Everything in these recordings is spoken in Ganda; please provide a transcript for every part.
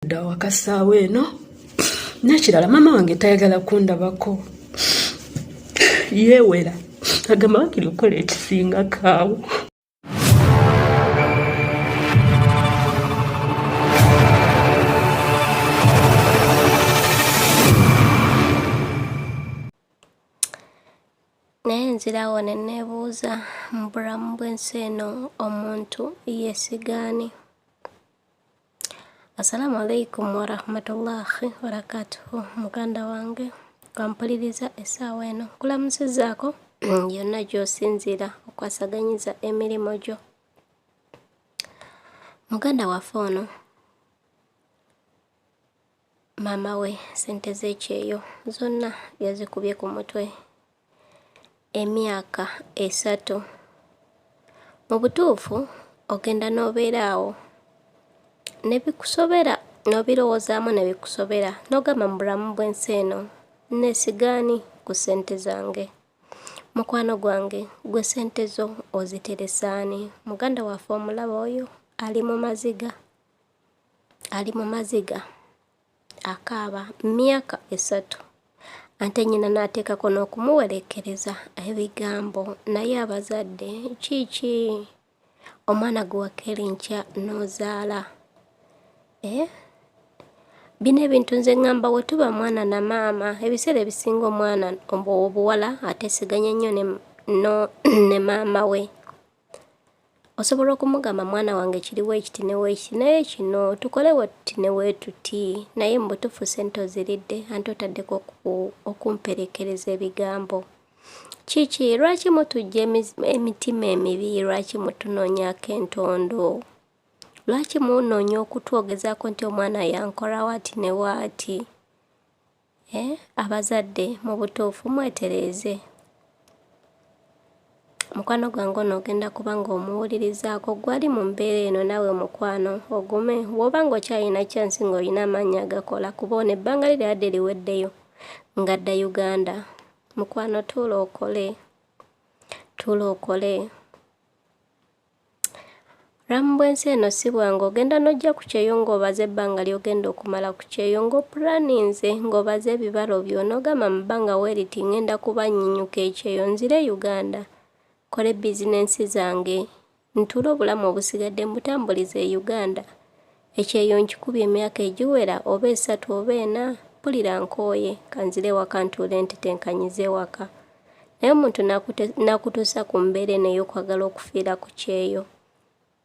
nda wakasaawa eno nekirala maama wange tayagala kundabako yeewera agamba wakiri okukola ekisinga kaawo nzirawo ne neebuuza mu bulamu bw'ensi eno omuntu yeesigaani Assalamu alaikum warahmatullahi wabarakatuhu muganda wange kampuliriza essaawa eno nkulamusizaako yonna gy'osinziira okwasaganyiza emirimu gyo muganda waffe ono maama we sente z'ekyeyo zonna yazikubye ku mutwe emyaka esatu mu butuufu ogenda n'obeera awo ne bikusobera n'obirowoozaamu ne bikusobera n'ogamba mu bulamu bw'ensi eno nneesigaani ku ssente zange mukwano gwange gwe ssente zo oziteresaani muganda waffe omulaba oyo ali mu maziga ali mu maziga akaaba myaka esatu ate nnyina n'ateekako n'okumuwerekereza ebigambo naye abazadde kiiki omwana gwe wakeera enkya n'ozaala eh? bino ebintu nze ŋŋamba we tuba mwana na maama ebiseera ebisinga omwana obuwala ateesiganya nnyo ne maama we osobola okumugamba mwana wange kiriwo ekiti neweekiti naye kino tukole wetuti neweetuti naye mu butuufu sente oziridde ante otaddeko okumperekereza ebigambo kiki lwaki mutujja emitima emibi lwaki mutunoonyako entondo lwaki munoonya okutwogezaako nti omwana yankola waati ne waati Eh, abazadde mu butuufu mwetereeze. Mukwano gwange ono ogenda kuba ng'omuwulirizaako gwali mu mbeera eno nawe mukwano ogume woba ng'okyalina kyansi ng'olina amaanyi agakola kuba ono ebbanga li lyadde liweddeyo ngadda uganda mukwano tuula okole tuula okole Ramu bwensi eno si bwangu ogenda n'ojja ku kyeyo ng'obaze ebbanga ly'ogenda okumala ku kyeyo ng'opulaninze ng'obaze ebibalo byo n'ogamba mu bbanga weeriti ng'enda kuba nnyinyuka ekyeyo nzire e Uganda nkole bizinensi zange ntuule obulamu obusigadde mbutambulize e Uganda Ekyeyo nkikubye emyaka egiwera oba esatu oba ena, mpulira nkooye, kanzire ewaka ntuule ntetenkanyize ewaka. Naye omuntu nakutuusa ku mbeera eno ey'okwagala okufiira ku kyeyo.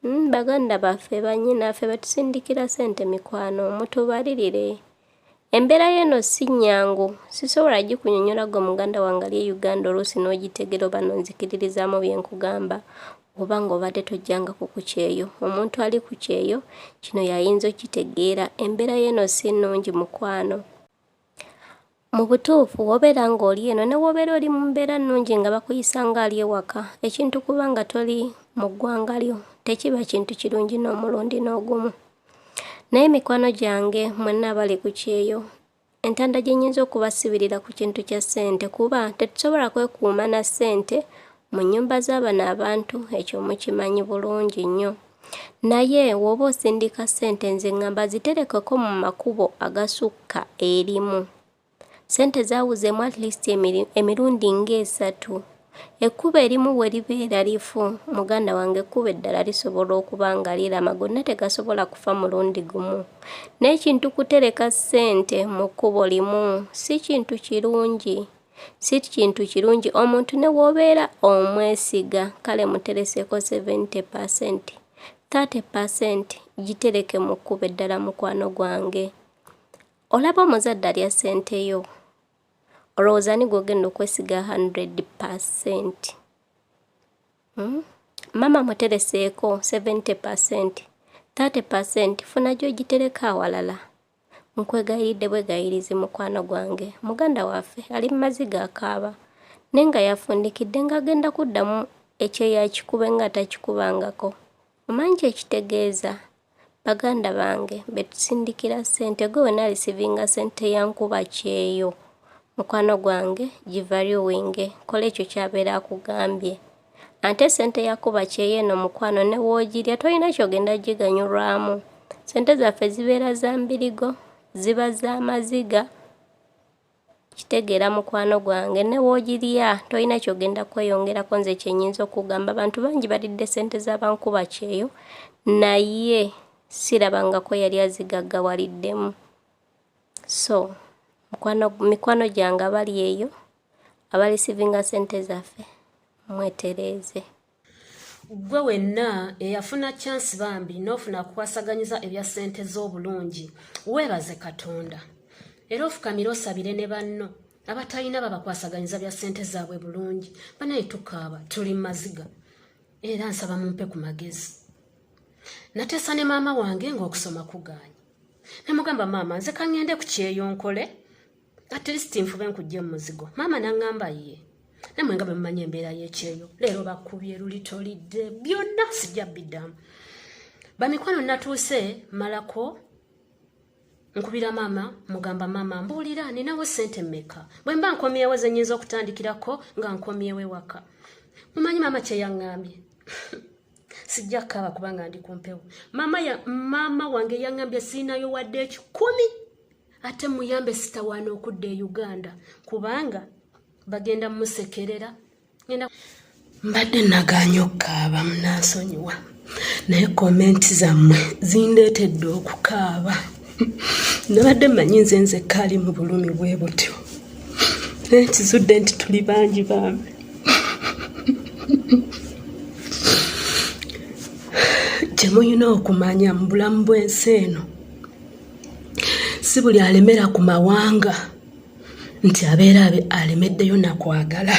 Hmm, baganda baffe, bannyinaffe betusindikira sente mikwano, mutubalirire. Embeera y'eno si nnyangu, sisobola gikunyonyola gwe muganda wange ali e Uganda oluusi n'ogitegera oba n'onzikiririzaamu bye nkugamba oba ng'obadde tojjanga ku ku kyeyo. Omuntu ali ku kyeyo kino y'ayinza okitegeera. Embeera y'eno si nnungi mukwano. Mu butuufu wobeera ng'oli eno ne wobeera oli mu mbeera nnungi nga bakuyisa ng'ali ewaka, ekintu kuba nga toli mu ggwanga lyo tekiba kintu kirungi n'omulundi n'ogumu. naye mikwano gyange mwenna abali ku kyeyo entanda gye nnyinza okubasibirira ku kintu kya ssente kuba tetusobola kwekuuma na ssente mu nnyumba z'abano abantu ekyo mukimanyi bulungi nnyo naye w'oba osindika ssente nze ngamba ziterekeko mu makubo agasukka erimu Ssente zaawuzeemu at least emirundi ng'esatu. Ekkubo erimu bwe libeera lifu, muganda wange ekkubo eddala lisobola okuba nga lirama gonna tegasobola kufa mulundi gumu. N'ekintu kutereka ssente mu kkubo limu si kintu kirungi. Si kintu kirungi omuntu ne w'obeera omwesiga kale mutereseko 70 percent. 30 percent gitereke mu kkubo eddala mukwano gwange. olaba omuzadde alya sente yo olowooza ni gwogenda okwesiga 100 percent hmm? mama mutereseeko 70 percent 30 percent funa gyogitereka awalala nkwegayiridde bwegayirizi mukwano gwange muganda waffe ali mu maziga akaaba naye nga yafundikidde ng'agenda kuddamu ekyeyo akikube nga atakikubangako Omanyi kye kitegeeza? Baganda bange be tusindikira ssente gwe wena alisivinga ssente ya nkuba kyeyo mukwano gwange givaryuwinge kola ekyo kyabeera akugambye ate ssente ya kuba kyeyo eno mukwano ne woogirya tolina kyogenda giganyulwamu ssente zaffe zibeera za mbirigo ziba za maziga kitegeera mukwano gwange ne woogirya tolina kyogenda kweyongerako nze kyenyinza okugamba abantu bangi balidde sente z'abankuba kyeyo naye sirabangako yali azigaggawaliddemu so mikwano gyange abali eyo abalisivinga sente zaffe mwetereeze Ggwe wenna eyafuna kyansi bambi n'ofuna kukwasaganyiza ebya ssente z'obulungi weebaze Katonda era ofukamire osabire ne banno abatalina babakwasaganyiza bya ssente zaabwe bulungi banaye tukaaba tuli mu maziga era nsaba mumpe ku magezi nateesa ne maama wange ng'okusoma kugaanyi ne mugamba maama nze kangende ku kyeyo nkole at least nfube nkujja mu muzigo maama naŋŋamba ye namwe nga bwe mumanyi embeera y'ekyeyo leero bakubye luli tolidde byonna sijja biddamu bamikwano natuuse malako nkubira maama mugamba maama mbuulira ninawo ssente mmeka bwe mba nkomyewo ze nnyinza okutandikirako nga nkomyewo ewaka mumanyi maama kye yaŋŋambye sijja kkaaba kubanga ndi ku mpewo maama wange yaŋŋambye siinayo wadde ekikumi ate muyambe sitawaana okudda e uganda kubanga bagenda musekerera genda mbadde naganya okukaaba munansonyiwa naye komenti zammwe zindeetedde okukaaba nabadde manyi nze nze kaali mu bulumi bwe butyo naye kizudde nti tuli bangi bambi kyemulina okumanya mu bulamu bw'ensi eno si buli alemera ku mawanga nti abeera alemeddeyo nakwagala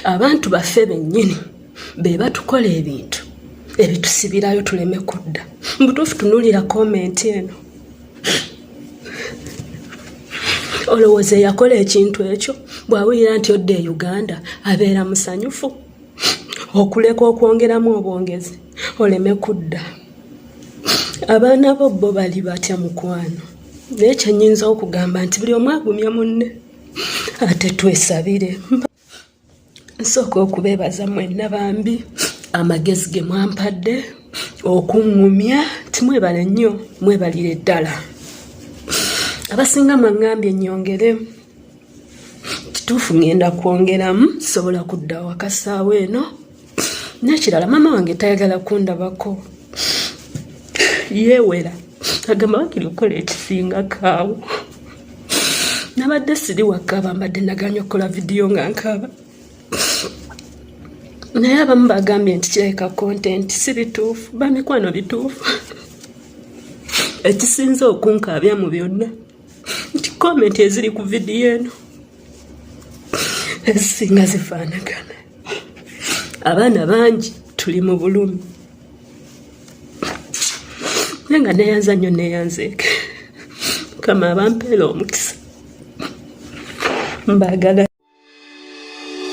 abantu baffe bennyini be batukola ebintu ebitusibirayo tuleme kudda mubutuufu tunulira komenti eno olowooza eyakola ekintu ekyo bwawulira nti odda e uganda abeera musanyufu okuleka okwongeramu obwongezi oleme kudda abaana bo bo bali batya mukwano naye kyenyinza okugamba nti buli omu agumye munne ate twesabire nsooka okubeebaza mwenna bambi amagezi ge mwampadde okuŋŋumya timwebale nnyo mwebalire ddala abasinga mwaŋŋambye nnyongere kituufu ŋŋenda kwongeramu sobola kudda wakasaawa eno nekirala maama wange tayagala kundabako yeewera agamba wakiri okukola ekisinga kaawo nabadde siri wakaaba mbadde naganya okukola vidiyo nga nkaaba naye abamu bagambye nti kirabika kontenti si bituufu bamikwano bituufu ekisinze okunkaabya mu byonna nti komenti eziri ku vidiyo eno ezisinga zifaanagana abaana bangi tuli mu bulumi naye nga neyanza nnyo neyanzeeke mukama abampeera omukisa mbagala